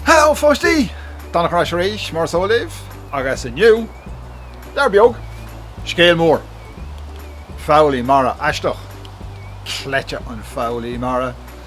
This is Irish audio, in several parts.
Heileo pháistí! Donnacha ar ais arís mar is eol libh agus inniu, leabhar beag, scéal mór. Foghlaí mara aisteach. Cleite an foghlaí mara.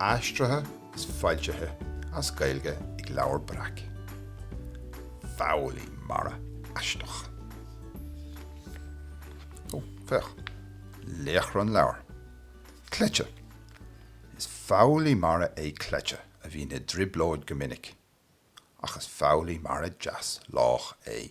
Aistrithe is foilsithe as Gaeilge ag Leabhar Breac. Foghlaí mara aisteach. Ó, féach. Laochra an leabhair. Cleite. Is foghlaí mara é Cleite a bhíonn i dtrioblóid go minic, ach is foghlaí mara deas lách é.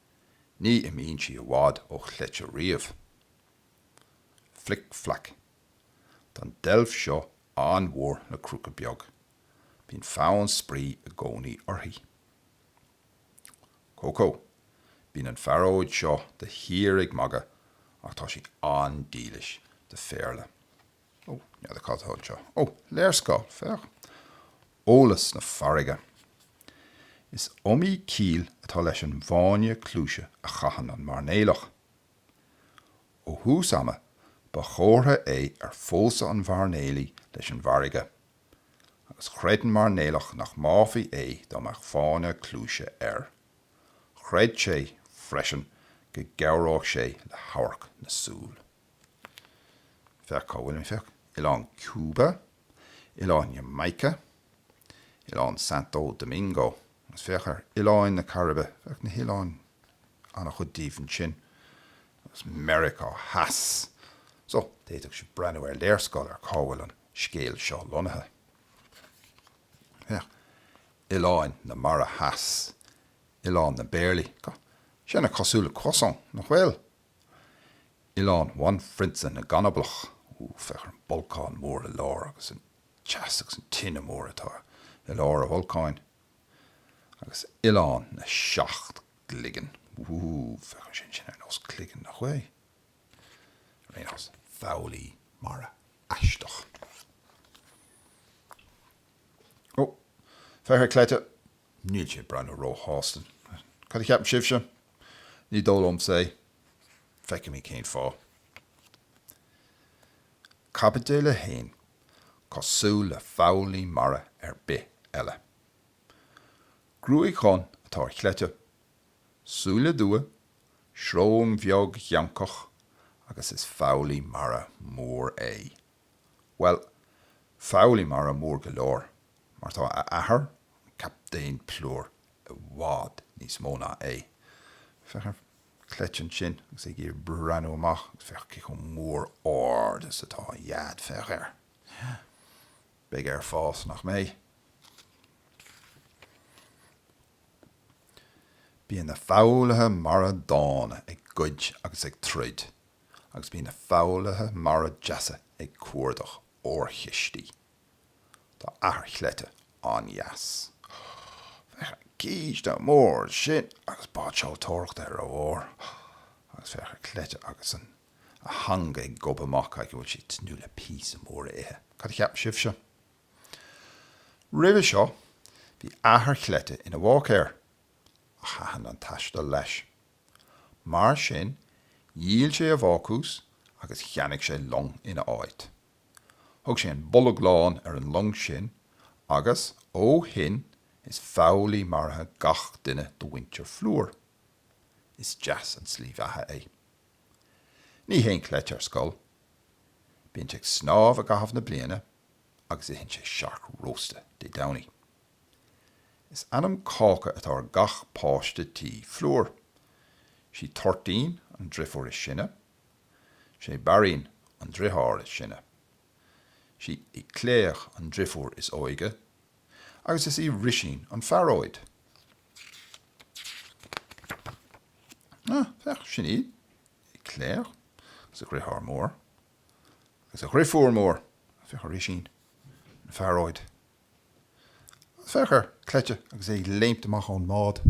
Ní imíonn sí i bhfad ó chleite riamh. Flic Flac. Tá an deilf seo an-mhór le crúca beag. Bíonn fonn spraoi i gcónaí uirthi. Cócó. Bíonn an phearóid seo de shíor ag magadh ach tá sí an-dílis do phéarla. Ó, n'fheadar cad 'tá anseo. Ó, léarscáil, féach! Eolas na farraige. Is iomaí ciall atá leis an bhfáinne cluaise a chaitheann an mairnéalach. Ó thús ama, ba chomhartha é ar phósadh an mhairnéalaí leis an bhfarraige, agus chreid an mairnéalach nach mbáfaí é dá mbeadh fáinne cluaise air. Chreid sé, freisin, go gcabhródh sé le hamharc na súl. Féach cá bhfuil mé, féach. Oileán Cuba, oileán Jamaica, oileán Santo Domingo. Agus féach ar oileáin na Cairibe, féach na hoileáin, an-chuid díobh ansin, agus Meiriceá Theas. So, d'fhéadfadh sé breathnú ar léarscáil ar cá bhfuil an scéal seo lonnaithe. Féach, oileáin na Mara Theas, oileán na bpéarlaí, tá sé an-chosúil le croissant, nach bhfuil? Oileán Bhanphrionsa na gCanablach. Ú, féach ar an bolcán mór i lár agus an teas agus an tine mór atá i lár a bholcáin. Agus Oileán na Seacht gCloigeann. Ú, féach ar sin, sin ar nós cloigeann nach bhfuil? Ar aon nós, foghlaí mara aisteach. Ó, féach ar Cleite Níl sé ag breathnú róshásta. Cad a cheapann sibhse? Ní dóigh liomsa é. Feicfimid cén fáth. Caibidil 1, Cosúil le foghlaí mara ar bith eile. Gruaig dhonn atá ar Chleite, súile dubha, srón bheag gheancach agus is foghlaí mara mór é. Bhuel, foghlaí mara mór go leor, mar tá a athair, an Captaen Plúr, i bhfad níos mó ná é. Féach ar Cleite ansin agus é ag iarraidh breathnú amach, agus féach cé chomh mór ard is atá a dhaid, féach air. Beidh air fás, nach mbeidh? Bíonn na foghlaithe mara dána ag goid agus ag troid. agus bíonn na foghlaithe mara deasa ag cuardach órchistí. Tá athair Chleite an-deas. Féach ar an gcíste mór ansin agus báid seoltóireachta ar a bharr agus féach ar Cleite agus a theanga ag gobadh amach aige. An bhfuil sé ag tnúth le píosa mór a ithe. Cad a cheap sibhse? Roimhe seo, bhí athair Chleite ina bháicéir, ach thaitin an taisteal leis. Mar sin, dhíol sé a bhácús agus cheannaigh sé long ina háit. Thug sé an Bolg Lán ar an long sin agus, ó shin, is foghlaí mara iad gach duine de mhuintir Phlúr. Is deas an tslí bheatha é. Ní théann Cleite ar scoil. Bíonn sé ag snámh i gcaitheamh na bliana agus itheann sé cearc rósta Dé Domhnaigh. Is ainm cáca atá ar gach páiste tí Phlúr. 'Sí Toirtín an driofúr is sine. 'Sé Bairín an driotháir is sine. 'Sí Éclair an driofúr is óige agus is í Rísín an phearóid. Á, féach, sin í Éclair agus a dhriotháir mór agus a dhriofúr mór. Féach ar Rísín an phearóid. Á, féach ar Cleite agus é ag léimt amach ón mbád,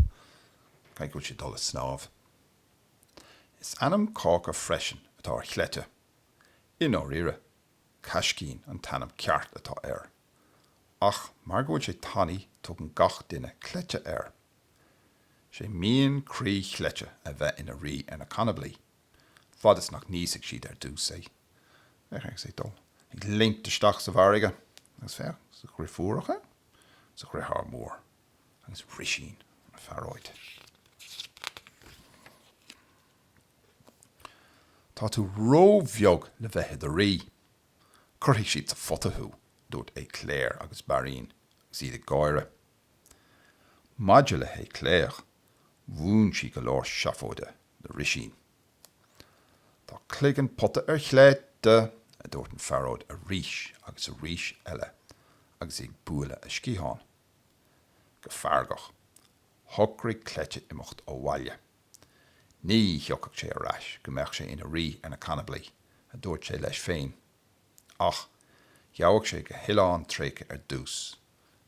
caithfidh go bhfuil sé ag dul ag snámh. Is ainm cáca freisin atá ar Chleite. I ndáiríre, Caiscín an t-ainm ceart atá air, ach mar go bhfuil sé tanaí tugann gach duine Cleite air. Is é mian croí Chleite a bheith ina rí ar na canablaí. fad is nach n-íosfaidh siad ar dtús é. Féach, tá sé ag dul ag léimt isteach sa bhfarraige, agus féach, is a dhriofúracha, is a dhriotháir mór, agus Rísín an phearóid. Tá tú ró-bheag le bheith i do rí. Cuirfidh siad sa phota thú, dúirt Éclair agus Bairín, agus iad ag gáire. Maidir le hÉclair, mhúin sí go leor seafóide le Rísín. Tá cloigeann pota ar Chleite, a dúirt an phearóid arís agus arís eile agus í ag bualadh a sciathán. Go feargach, shocraigh Cleite imeacht ó bhaile. Ní thiocfadh sé ar ais go mbeadh sé ina rí ar na canablaigh, a dúirt sé leis féin. Ach gheabhadh sé go hoileán tréigthe ar dtús.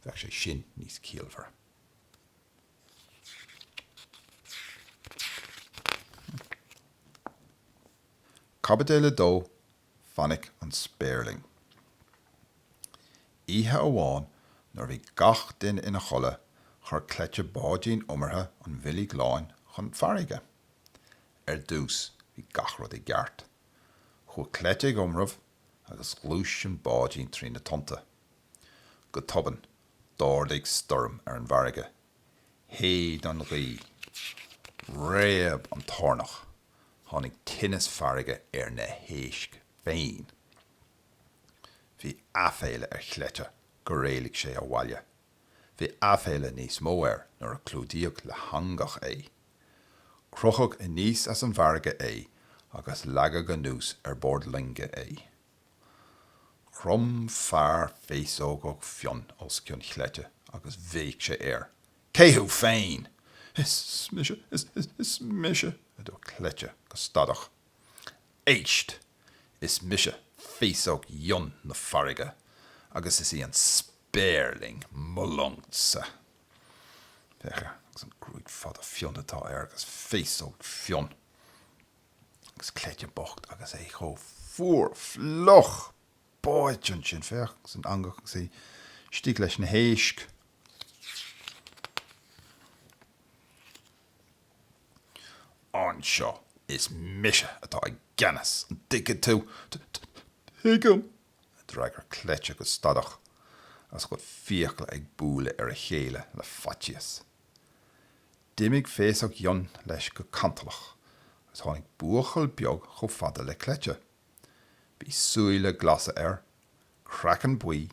bheadh sé sin níos ciallmhaire. Caibideal a Dó, Fainic an Spéirling. Oíche amháin nuair a bhí gach duine ina chodladh chuir Cleite báidín iomartha an Bhoilg Láin chun farraige. Ar dtús bhí gach rud i gceart. Chuaigh Cleite ag iomramh agus ghluais an báidín trí na tonnta. Go tobann, d'ardaigh stoirm ar an bhfarraige. Shéid an ghaoth. Réab an toirneach. Tháinig tinneas farraige ar na héisc féin. Bhí aiféala ar Chleite gur éalaigh sé ó bhaile. Bhí aiféala níos mó air nuair a clúdaíodh le heangach é. Crochadh aníos as an bhfarraige é agus leagadh anuas ar bord loinge é. Chrom fear féasógach fionn os cionn Chleite agus bhéic sé air, Cé thú féin? Is mise, is, is, is mise, a dúirt Cleite go stadach. Éist! Is mise Féasóg Fhionn na Farraige agus is í an Spéirling mo longsa. Féach air agus an gruaig fada fionn atá air agus féasóg fionn. Agus Cleite bocht agus é chomh fuar fliuch! Báite ansin, féach, san eangach agus é istigh leis na héisc. Anseo, is mise atá i gceannas, an dtuigeann tú? Tuigim! a d'fhreagair Cleite go stadach, agus a chuid fiacla ag bualadh ar a chéile le faitíos. D'imigh Féasóg Fhionn leis go cantalach agus tháinig buachaill beag chomh fada le Cleite. Bhí súile glasa air, craiceann buí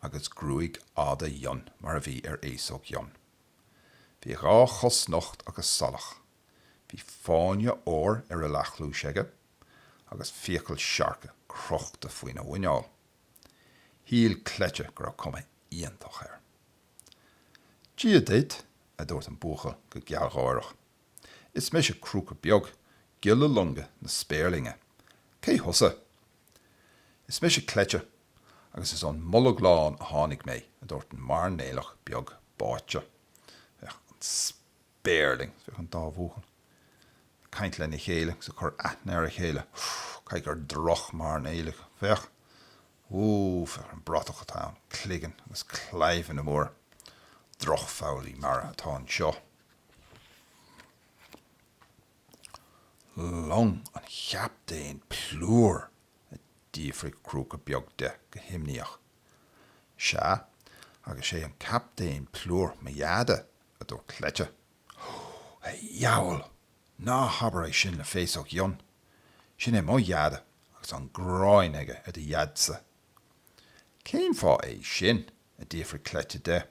agus gruaig fhada fhionn mar a bhí ar Fhéasóg Fhionn. Bhí a dhá chos nocht agus salach. Bhí fáinne óir ar a leathchluais aige agus fiacail siorca crochta faoina mhuineál. Shíl Cleite go raibh cuma iontach air. Dia duit, a dúirt an buachaill go gealgháireach. Is mise Crúca Beag, giolla loinge na Spéirlinge. Cé thusa? Is mise Cleite, agus is ón mBolg Lán a tháinig mé, a dúirt an mairnéalach beag báite. Féach an. Spéirling, féach an dá bhuachaill ag caint lena chéile agus ag cur aithne ar a chéile, Ooh, caithfidh gur drochmhairnéalaigh, féach, Ooh, féach an bratach atá ann, cloigeann agus claimheanna móra, drochfhoghlaí mara atá anseo. Long an Chaptaein Plúr, a d'fhiafraigh Crúca Beag de go himníoch. Sea, agus sé an Captaen Plúr mo dheaide, a dúirt Cleite. Ó, a dheabhail! Ná habair é sin le Féasóg Fhionn. Sin é mo Dheaide agus an ghráin aige ar do Dhaidse. Cén fáth é sin? a d'fhiafraigh Cleite de.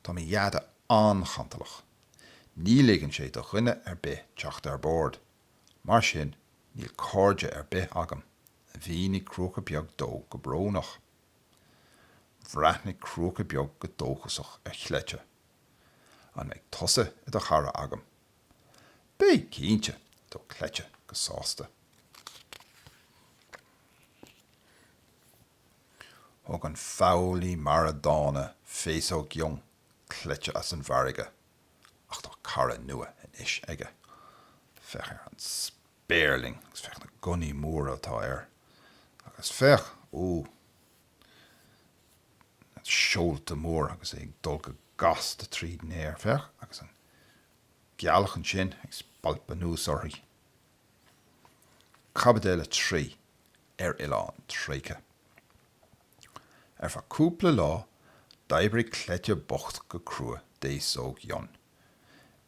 Tá mo Dheaide an-chantalach. Ní ligeann sé do dhuine ar bith teacht ar bord, mar sin níl cairde ar bith agam, a mhínigh Crúca Beag dó go brónach. Bhreathnaigh Crúca Beag go dóchasach ar Chleite. An mbeidh tusa i do chara agam? Beidh, cinnte! dúirt Cleite go sásta. Thug an foghlaí mara dána Féasóg Fhionn Chleite as an bhfarraige, ach tá cara nua anois aige. Féach ar an. Spéirling. Agus féach na gunnaí móra atá air. Agus féach, ó, na seolta móra agus é ag dul go gasta tríd an aer. Féach, agus an ghealach ansin ag spalpadh anuas uirthi. Caibideal a Trí, Ar Oileán Tréigthe. Ar feadh cúpla lá, d'oibrigh Cleite bocht go crua d'Fhéasóg Fhionn.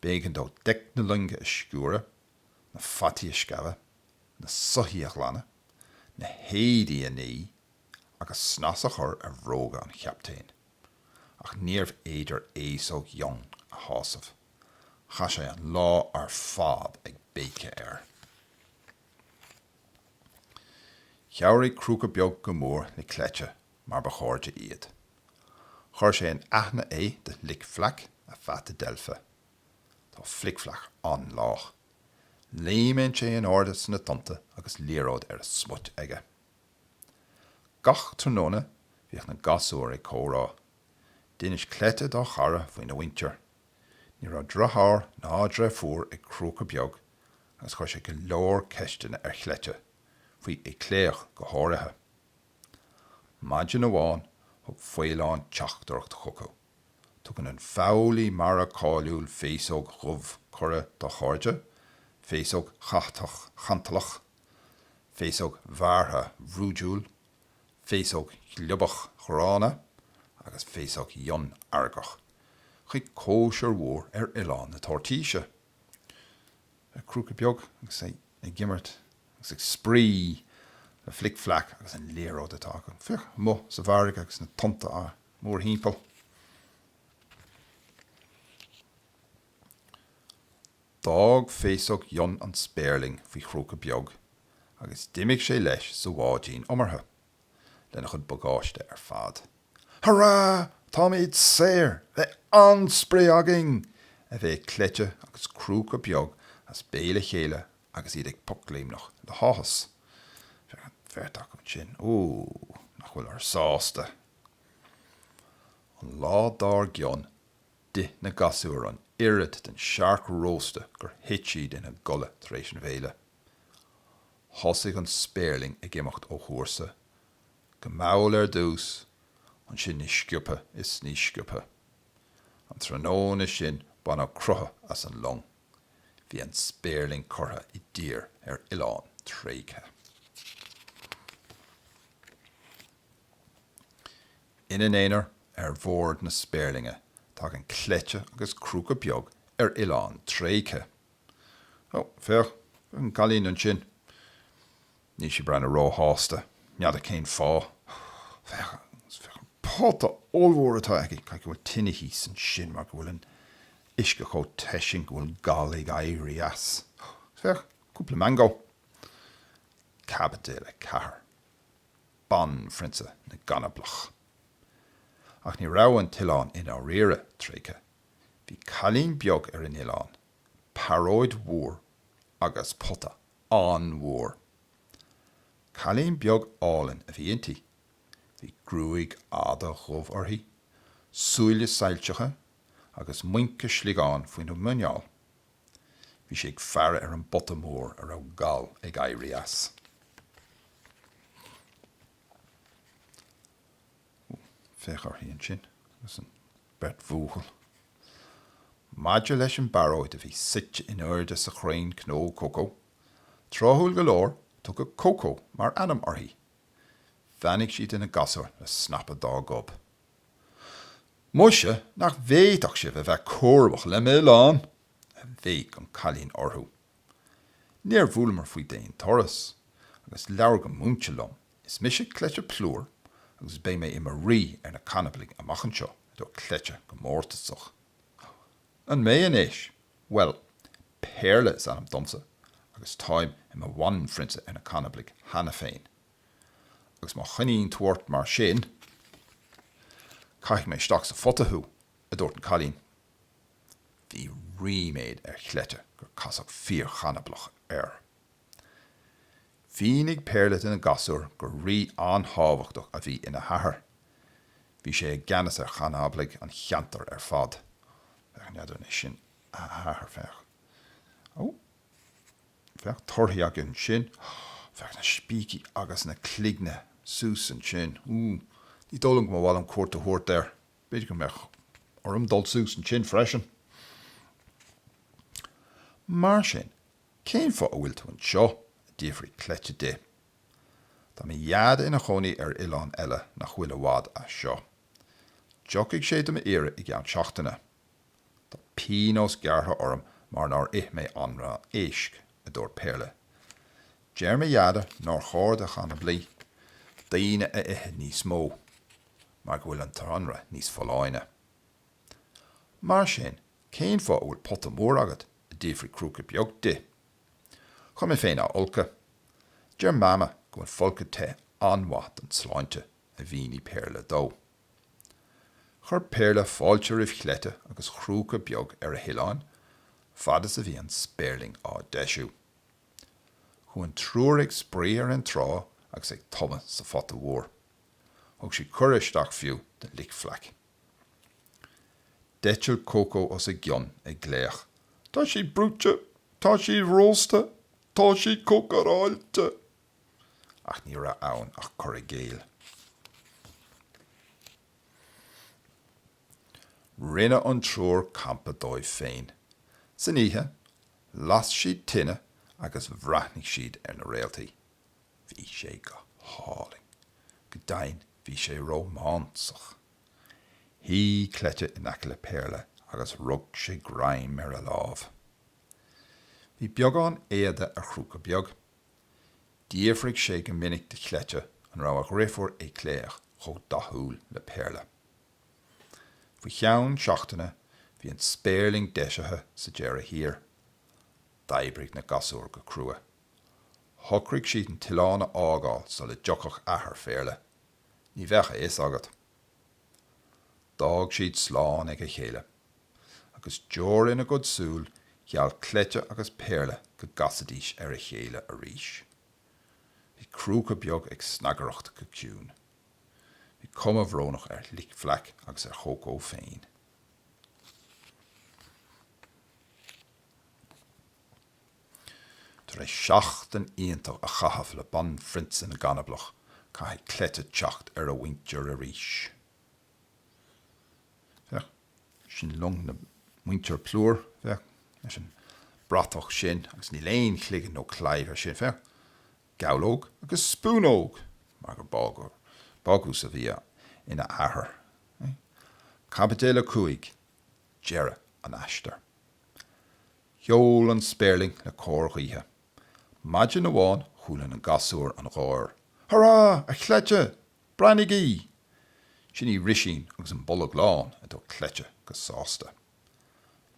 B'éigean dó deic na loinge a sciúradh. na fataí a scamhadh, na soithí a ghlanadh, na héadaí a ní agus snas a chur ar bhróga an chaptaein. Ach níorbh fhéidir Féasóg Fhionn a shásamh. Chaith sé an lá ar fad ag béiceadh air. Chabhraigh Crúca Beag go mór le Cleite mar ba chairde iad. Chuir sé in aithne é do Fhlic Flac, a pheata deilfe. Tá Flic Flac an-lách. Léimeann sé in airde sna tonnta agus liathróid ar a smut aige. Gach tráthnóna bhíodh na gasúir ag comhrá. D'inis Cleite dá chara faoina mhuintir. Ní raibh driotháir ná dreifiúr ag Crúca Beag agus chuir sé go leor ceisteanna ar Chleite, faoi Ui Cléirch go háirithe. Maidin amháin thug faoileán teachtaireacht chucu. Tugann an foghlaí mara cáiliúil féasóg dhubh cuireadh dá chairde, féasóg chatach chantalach, féasóg bhearrtha bhrúidiúil, féasóg ghliobach ghránna agus féasóg fhionn fheargach, chuig cóisir mhór ar Oileán na Toirtíse. le crúca beag agus é ag imirt agus ag spraoi le flic-flac agus an liathróid atá acu. Féach amu sa bhfarraige agus na tonnta á mórthimpeall. D'fhág féasóg Fhionn an spéirling faoi Chrúca beag agus d'imigh sé leis sa bháidín iomartha. lena chuid bagáiste ar fad. Hurá! Táimid saor! Beidh an-spraoi againn! a bhéic Cleite agus Crúca Beag as béal a chéile agus iad ag pocléimneach le háthas. Féach an bheirt acu ansin, ó, nach bhfuil an-sásta! An lá dár gcionn, d'ith na gasúir an oiread den siorc rósta gur thit siad ina gcodladh tar éis an bhéile. Thosaigh an spéirling ag imeacht ó chúrsa, go mall ar dtús, ansin níos sciobtha is níos sciobtha. An tráthnóna sin baineadh croitheadh as an long. Bhí an spéirling curtha i dtír ar oileán tréigthe. Ina n-aonar ar bhord na spéirlinge, tagann cleite agus crúca beag ar oileán tréigthe. Ó, féach, an cailín ansin. Níl sí ag breathnú róshásta. N'fheadar cén fáth. Féach, féach an pota ollmhór atá aige. Caithfidh go bhfuil tine thíos ansin mar go bhfuil an t-uisce chomh te sin go bhfuil gal ag éirí as. Ó, féach, cúpla mangó. Caibidil 4. Banphrionsa na gCanablach. Ach ní raibh an t-oileán i ndáiríre tréigthe. Bhí cailín beag ar an oileán, pearóid mhór agus pota an-mhór. Cailín beag álainn a bhí inti. Bhí gruaig fhada dhubh uirthi, súile soilseacha agus muince sliogán faoina muineál. Bhí sí ag faire ar an bpota mór a raibh gal ag éirí as. féach uirthi ansin, agus an beirt bhuachaill. Maidir leis an bparóid a bhí suite in airde sa chrann cnó cócó, tráthúil go leor, tugadh Cócó mar ainm uirthi. Bheannaigh sí do na gasúir le snapadh dá gob. Muise nach bhféadfadh sibh a bheith cúramach le m'oileán! a bhéic an cailín orthu. Níor bhuaileamar faoi d'aon turas, agus labhair go múinte liom Is mise Cleite Plúr agus beidh mé i mo rí ar na canablaigh amach anseo, a dúirt Cleite go mórtasach. An mbeidh anois? Bhuel, Péarla is ainm domsa agus táim i mo bhanphrionsa ar na canablaigh cheana féin. Agus má choinníonn tú ort mar sin, caithfidh mé isteach sa phota thú, a dúirt an cailín. Bhí ríméad ar Chleite gur casadh fíorchanablach air. Mhínigh Péarla do na gasúir gur rí an-tábhachtach a bhí ina hathair. Bhí sé i gceannas ar chanablaigh an cheantair ar fad. Féach neadar anois sin a hathair, féach. Ó, féach torthaí againn ansin. Féach na spící agus na cloigne suas ansin. Ú, ní dóigh liom go mba mhaith liom cuairt a thabhairt air. B'fhéidir go mbeadh orm dul suas ansin freisin. Mar sin, Cén fáth a bhfuil tú anseo? a d'fhiafraigh Cleite di. Tá mo Dheaide ina chónaí ar oileán eile nach bhfuil i bhfad as seo. Tiocfaidh sé do m'iarraidh i gceann seachtaine. Tá pionós gearrtha orm mar nár ith mé anraith éisc, a dúirt Péarla. Deir mo Dheaide nár chóir do chanablaigh daoine a ithe níos mó mar go bhfuil an t-anraith níos folláine. Mar sin, cén fáth a bhfuil pota mór agat a d'fhiafraigh Crúca Beag di. Chun mé féin a fholcadh. Deir Mama go bhfuil folcadh te an-mhaith don tsláinte, a mhínigh Péarla dó. Chuir Péarla fáilte roimh Chleite agus Chrúca Beag ar a hoileán fad is a bhí an spéirling á deisiú. Chuaigh an triúr ag spraoi ar an trá agus ag tumadh sa phota mhór. Thug sí cuireadh isteach fiú do Flic Flac. D'eitil Cócó os a gcionn, ag glaoch, Tá sí bruite! Tá sí rósta! Tá sí cócaráilte! Ach ní raibh ann ach cur i gcéill. Rinne an triúr campa dóibh féin. San oíche, las siad tine agus bhreathnaigh siad ar na réaltaí. Bhí sé go hálainn. Go deimhin bhí sé rómánsach. Shuigh Cleite in aice le Péarla agus rug sé greim ar a lámh. Bhí beagán éada ar Chrúca Beag. D'fhiafraigh sé go minic de Chleite an raibh a dheirfiúr Éicléach chomh dathúil le Péarla. Faoi cheann seachtaine bhí an spéirling deisithe sa deireadh thiar. D'oibrigh na gasúir go crua. Shocraigh siad an t-oileán a fhágáil sula dtiocfadh athair Phéarla, ní bheadh a fhios agat. D'fhág siad slán ag a chéile. Agus deor ina gcuid súl, gheall Cleite agus Péarla go gcasfaidís ar a chéile arís. Bhí crúca beag ag snagaireacht go ciúin. Bhí cuma bhrónach ar Fhlic Fleaic agus ar Chócó féin. Tar éis seachtain iontach a chaitheamh le Banphrionsa na gCanablach, caithfidh cleite teacht ar a mhuintir arís. Féach, sin long na muintir plúir, féach, leis an bratach sin, agus níl aon chloigeann nó claíomh ar sin, féach, gabhlóg agus spúnóg, mar gur bágóir, bácús a bhí ina athair. Caibidil 5, deireadh an aistir. Sheol an spéirling le cóir ghaoithe. Maidin amháin chuala na gasúir an gháir, Hurá, a chleite! Breathnaígí! Sin í Risín agus an bolg lán, a dúirt Cleite go sásta.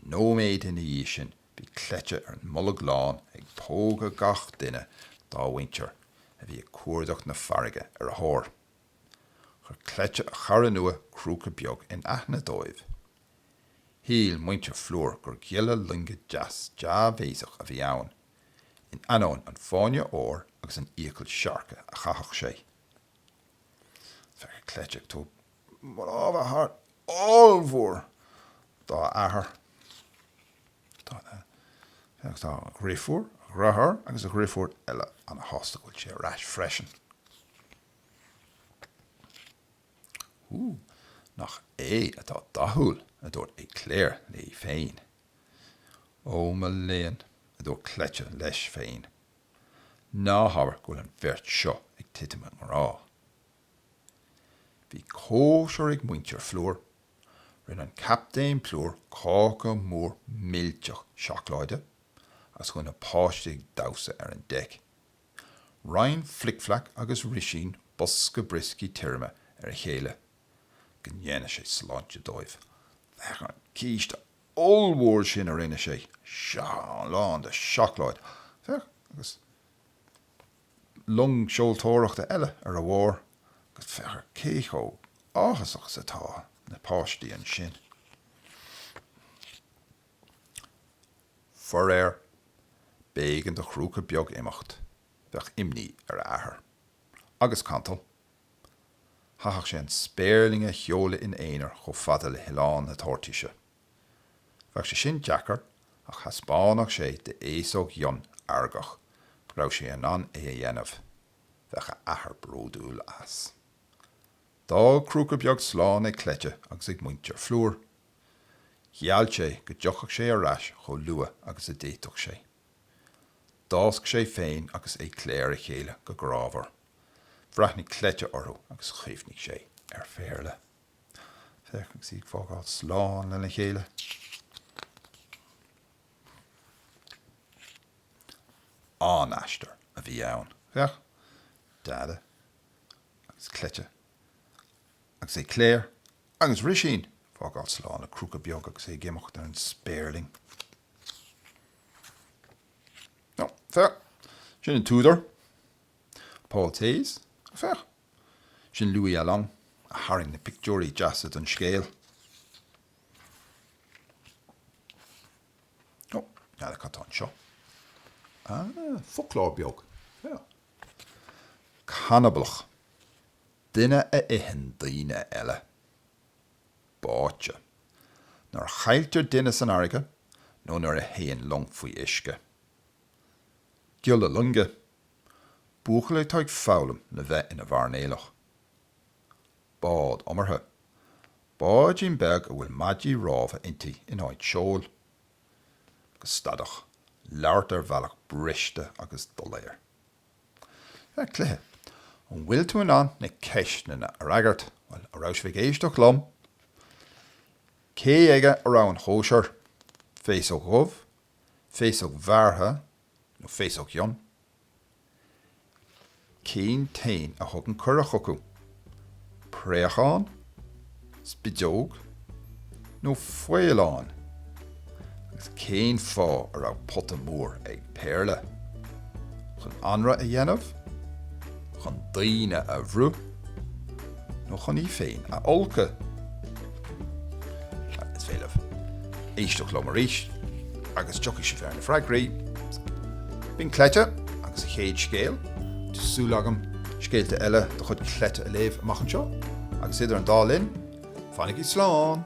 Nóiméad ina dhiaidh sin bhí Cleite ar an mbolg lán ag pógadh gach duine dá mhuintir a bhí ag cuardach na farraige ar a thóir. Chuir cleite a chara nua crúca beag in aithne dóibh. Shíl muintir Phlúir gur giolla loinge deas dea-bhéasach a bhí ann, in ainneoin an fáinne óir agus an fhiacail siorca a chaitheadh sé. Féach ar Cleite ag tabhairt lámha thart ollmhór dá athair, féach, tá a dhriofúr, a dhriotháir agus a dhriofúr eile ana-shásta go bhfuil sé ar ais freisin. Hú, nach é atá dathúil, a dúirt Claire léi féin. Ó, mo léan, a dúirt Cleite leis féin, ná habair go bhfuil an bheirt seo ag titim i ngrá. Bhí cóisir ag muintir Phlúir. Rinne an Captaen Plúr cáca mór millteach seacláide is chuaigh na páistí ag damhsa ar an deic. Roinn Flic Flac agus Risín bosca brioscaí tirime ar a chéile go ndéana sé sláinte dóibh. Féach an císte ollmhór sin a rinne sé, sea, lán de seacláid, féach, agus long seoltóireachta eile ar a bharr agus féach ar cé chomh áthasach is atá na páistí ansin. Faraor, b'éigean do chrúca beag imeacht, bheadh imní ar a athair. Agus cantal. Chaithfeadh sé an spéirling a sheoladh ina aonar chomh fada le hoileán na toirtíse. Bheadh sé sin deacair ach thaispeánfadh sé d'fhéasóg fhionn fheargach go raibh sé in ann é a dhéanamh. Bheadh a athair bródúil as. D'fhág crúca beag slán ag cleite agus ag muintir Phlúir. Gheall sé go dtiocfadh sé ar ais chomh luath agus a d'fhéadfadh sé. D'fhásc sé féin agus Éclair a chéile go grámhar. Bhreathnaigh cleite orthu agus chuimhnigh sé ar Phéarla. Féach, agus iad ag fágáil slán lena chéile. An-aistear a bhí ann. Féach, Dada. agus cleite agus Éclair agus Rísín, fágáil slán le crúca beag agus é ag imeacht ar an spéirling. Nó, féach, sin an t-údar, Paul Thiès, féach, sin Louis Alloing a tharraing na pictiúirí deasa don scéal. Nó, n'fheadar cad atá anseo, ah, foclóir beag, féach, canablach, duine a itheann daoine eile, báite, nuair a chailltear duine san fharraige nó nuair a théann long faoi uisce, giolla loinge, buachaill atá ag foghlaim le bheith ina mhairnéalach, bád iomartha, báidín beag a bhfuil maidí rámha inti in áit seoil. go stadach, labhairt ar bhealach briste agus doiléir. Cluiche, An bhfuil tú in ann na ceisteanna a fhreagairt? Bhuel, an raibh sibh ag éisteacht liom? Cé aige a raibh an chóisir? Féasóg dhubh, Féasóg bhearrtha, nó féasóg fhionn, cén t-éan a thug an cuireadh chucu, préachán, spideog nó faoileán? Agus cén fáth a raibh pota mór ag Péarla? Chun anraith a dhéanamh? Chun daoine a bhruith? nó chun í féin a fholcadh. Is féidir libh éisteacht liom arís agus tiocfaidh sibh ar na freagraí. B'in Cleite agus a chéad scéal, tá súil agam scéalta eile de chuid Cleite a léamh amach anseo agus idir an dá linn, fanaigí slán!